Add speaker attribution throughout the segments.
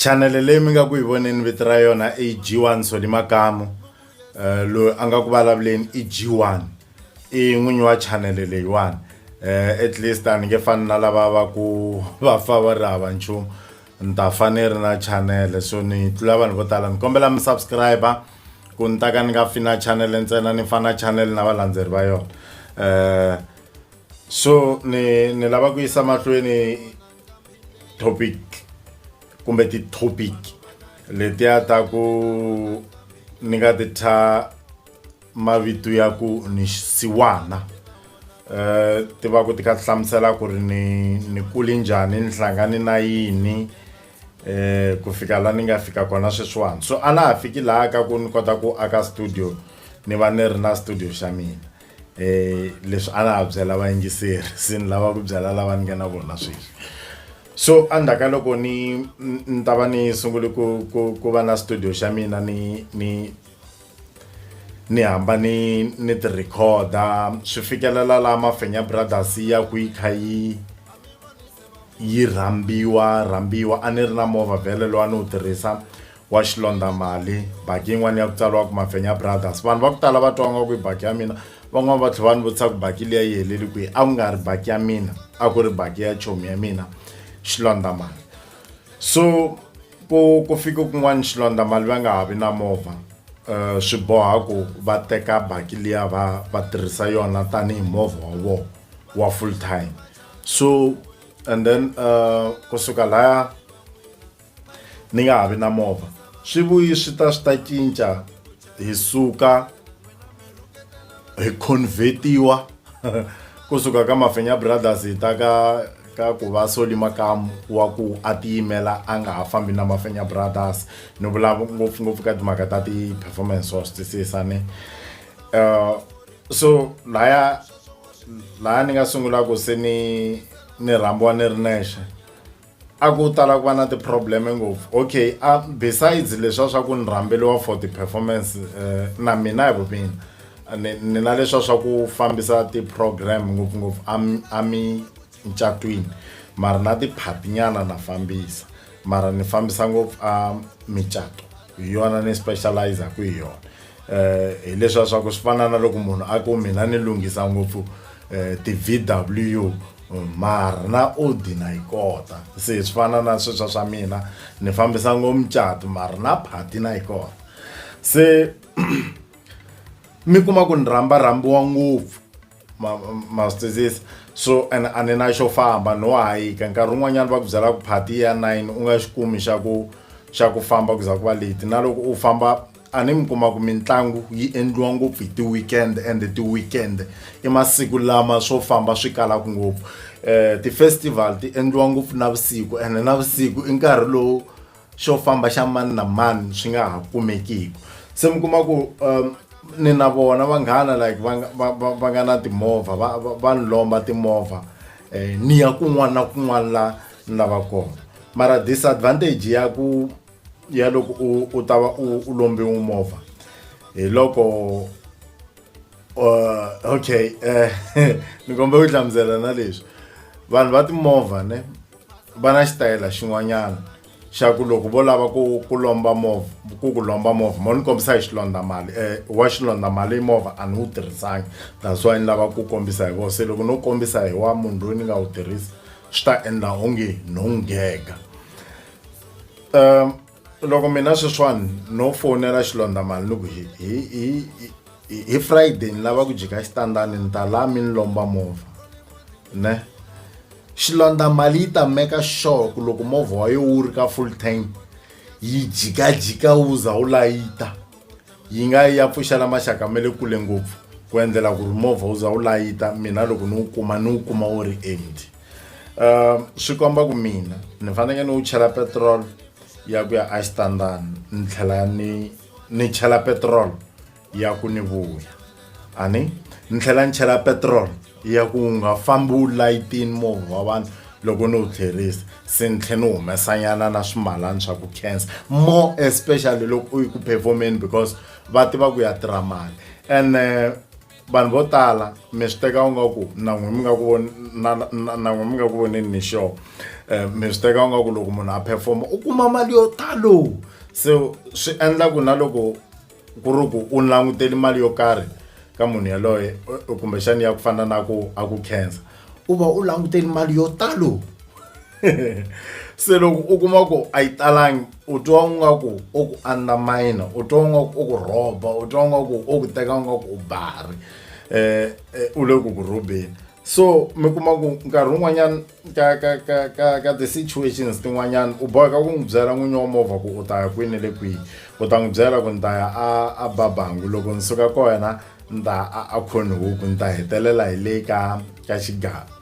Speaker 1: Chanele leyi mi nga ku yi voneni vito ra yona i G1 Soli Makamu eh, loyi a nga ku vulavuleni i G1 i n'winyi wa chanele leyiwani eh, at least a ni nge fani na lava va ku va fa va ri hava nchumu ni ta fa ni ri na chanele so ni tlula vanhu vo tala ni kombela mi subscriber ku ni ta ka ni nga fi na chanele ntsena ni fa na chanele na valandzeri va yona um so ni ni lava ku yisa mahlweni topic kumbe ti-topic letiya ta ku ni nga ti thya mavito ya ku ni xisiwana um eh, ti va ku ti kha ti hlamusela ku ri ni ni kuli njhani ni hlangane na yini um ku fika la ni nga fika kona sweswiwani so a na ha fiki laha ka ku ni kota ku aka studio ni va ni ri na studio xa mina eh leswi a la ha byela vayingiseri se ni lava ku byela lava ni nga na vona sweswi so endzhaku ka loko ni ni ta va ni sungule ku ku ku va na studio xa mina ni ni ni hamba ni ni ti recorder swi fikelela la mafenya brothers ya ku yi kha yi yi rhambiwa rhambiwa a ni ri na movha vhele lowu a ni wu tirhisa wa xilondamali baki yin'wana ya ku tsariwa ku mafenya brothers vanhu va ku tala va twa nga ku i baki ya mina van'wana va tlhela va ni vutisa ku baki liya yi heleli kwihi a ku nga ri baki ya mina a ku ri baki ya chomi ya mina xilondamali so ku ku fike kun'wana xilondamali va nga ha vi na movha um swi boha ku va teka baki liya va va tirhisa yona tanihi movha wa vona wa full time so and then um kusuka laya ni nga ha vi na movha swi vuyi swi ta swi ta cinca hi suka hi convertiwa kusuka ka mafenya brothers hi ta ka ka ku va soli makamu wa ku a tiyimela a nga ha fambi na mafenya brothers ni vula ngopfungopfu ka timhaka ta ti-performance wa swi twisisa ni um so laya laya ni nga sungulaka se ni ni rhambiwa ni ri nexe a ku tala ku va na ti-problem ngopfu okay a besides leswa swa ku ni rhambeliwa for ti-performance uh, na mina hi vumina ni, ni na leswa swa ku fambisa ti-program ngopfungopfu amincatwini mara na ti-party nyana na fambisa mara ni fambisa ngopfu a micato hi yona ni specializaku hi yona um hi leswiya swa ku swi fana na loko munhu a ku mina ni lunghisa ngopfu um ti-v w mara na odi na yi kota se swi fana na sweswa swa mina ni fambisa ngo mucato mara na phati na yi kota se mi kuma ku ni rhamba rhambiwa ngopfu mastizisa so and a ni na xo famba no hayika nkarhi wun'wanyana va ku byela ku phati ya nine u nga xi kumi xa ku xa ku famba ku za ku va leti na loko u famba a ni mi kuma ku mitlangu yi endliwa ngopfu hi ti-weekend and ti-weekend i masiku lama swo famba swi kalaka ngopfu um ti-festival ti endliwa ngopfu navusiku ene navusiku i nkarhi lowu xo famba xa mani na mani swi nga ha kumekiki se mi kuma ku um, ni na vona vanghana like va nga na timovha va ni lomba timovha eh, ni ya kun'wana na kun'wana la ni lava kona mara disadvantage ya ku ya loko u u ta va u u lombiwe movha hi loko uh, okay eh, ni kombela ku hlamusela na leswi vanhu va timovha ne va na xitayela xin'wanyana xa ku loko vo lava ku ku lomba movha ku ku lomba movha mo ni kombisa hi xilondza mali um wa xilondza mali i movha a ni wu tirhisangi that's why ni lava ku kombisa hi vona se loko no kombisa hi wa munhu loyi ni nga wu tirhisa swi ta endla onge no nghega um loko mina sweswiwani no fonela xilondamali ni ku hi hi hi hi- hi friday ni lava ku jika xitandani ni ta la mi ni lomba movha ne xilondamali yi ta meka sure ku loko movha wa yo wu ri ka full tank yi jikajika wu za wu layita yi nga yi ya pfuxela maxaka ma le kule ngopfu ku endlela ku ri movha wu za wu layita mina loko ni wu kuma ni wu kuma wu ri empty um swi komba ku mina ni fanekele ni wu chela petrol ya ku ya exitandani ni tlhela ni ni chela petrol ya ku ni vuya a ni ni tlhela ni chela petrol ya ku nga fambi wu layitini movha wa vanhu loko ni wu tlherisa se ni tlhe ni humesanyana na swimalani swa ku cancer more especially loko u yi ku performeni because va tiva ku ya tirha mali ene vanhu vo tala mi swi teka u nga ku na n'wi mi nga ku na na n'wi mi nga ku voneni ni sure eh, mi swi teka u nga ku loko munhu a performa u kuma mali yo talo so swi endla ku na loko ku ri ku u languteli mali yo karhi ka munhu yaloye kumbexani ya ku fana na ku a ku cancer u va u languteni mali yo talo se loko u kuma ku a yi talangi u twa u nga ku u ku undermine u twa u nga ku u ku rhoba u twa u nga ku u ku teka u nga ku u bari eh, eh u le ku ku rhobeni so mi kuma ku nkarhi wun'wanyana ka ka ka ka ka ti-situations tin'wanyana u boheka ku n'wi byela n'winyi wa movha ku u ta ya kwini le kwihi u ta n'wi byela ku ni ta ya a a babangu loko ni suka kona ni ta a a khoni huku ni ta hetelela hi le ka ka xigava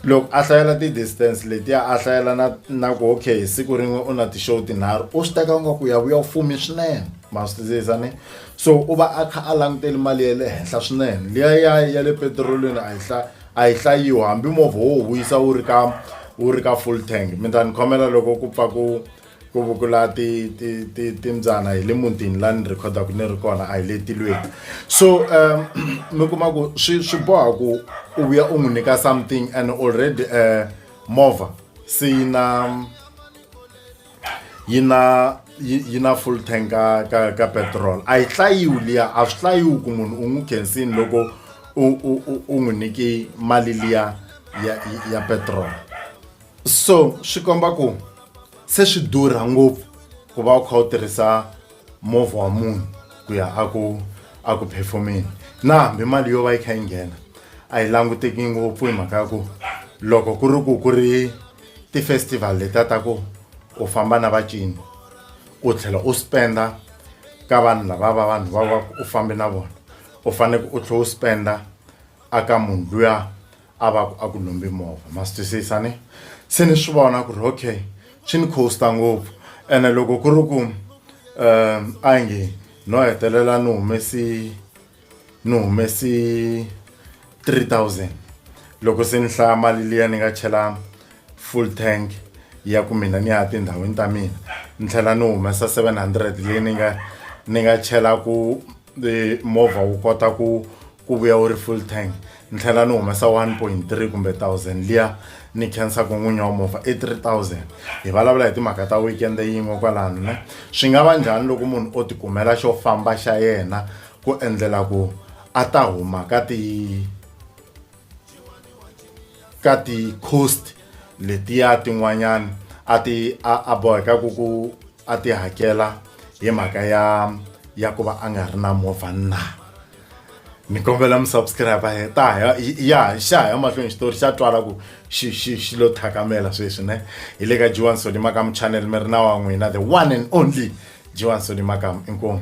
Speaker 1: loko a hlayela ti-distance letiya a hlayela na na ku okay siku rin'we u na ti-show tinharhu u swi teka nga ku ya vuya u fumi swinene ma swi twisisa ni so u va a kha a languteli mali ya le henhla swinene liya ya ya le petirolini a yi hla a yi hlayiwa hambi movha wo wu vuyisa wu ri ka wu ri ka full tank mi ta ni khomela loko ku pfa ku ku vukula ti ti ti timbyana hi le mutini la ni rhekhodaka ni ri kona a hi le tilweni so um mi kuma ku swi swi boha ku u vuya u n'wi nyika something and already um movha se yi na yi na yi na full tank ka ka ka petrol a yi hlayiwi liya a swi hlayiwi ku munhu u n'wi khensini loko u u u n'wi nyike mali liya ya ya petrol so swi komba ku se swi durha ngopfu ku va u kha u tirhisa movha wa munhu ku ya a ku a ku performeni na hambi mali yo va yi kha yi nghena a yi languteki ngopfu hi mhaka ya ku loko ku ri ku ku ri ti-festival leta ta ku u famba na vacini u tlhela u spenda ka vanhu lava va vanhu va va u fambe na vona u faneke u tlhela u spenda aka munhu luya a va ku a ku lombi movha ma swi twisisa ne se ni swi vona ku ri okay swi ni costa ngopfu ene loko ku ri ku um a yi nge no hetelela ni humesi ni humesi three thousand loko se ni hlaya mali liya ni nga chela full tank ya ku mina ni ya tindhawini ta mina ni tlhela ni humesa seven hundred leyi ni nga ni nga chela ku movha wu kota ku ku vuya u ri full tank ni tlhela ni humesa 1.3 kumbe 1000 liya ni khensaka n'winyi wa movha i 3000 hi vulavula hi timhaka ta weekend yin'we kwalano ne swi nga va njhani loko munhu o tikumela xo famba xa yena ku endlela ku a ta huma ka ti ka ti-coast letiya tin'wanyana a ti a a boheka ku ku a ti hakela hi mhaka ya ya ku va a nga ri na movha na. ni kombela mi subscribe hi ta ya ya xa ya mahlweni xitori xa twala ku xi xi xi lo thakamela sweswi ne hi le ka Jiwan Soli Makam channel mi ri na wa n'wina the one and only Jiwan Soli Makam inkomu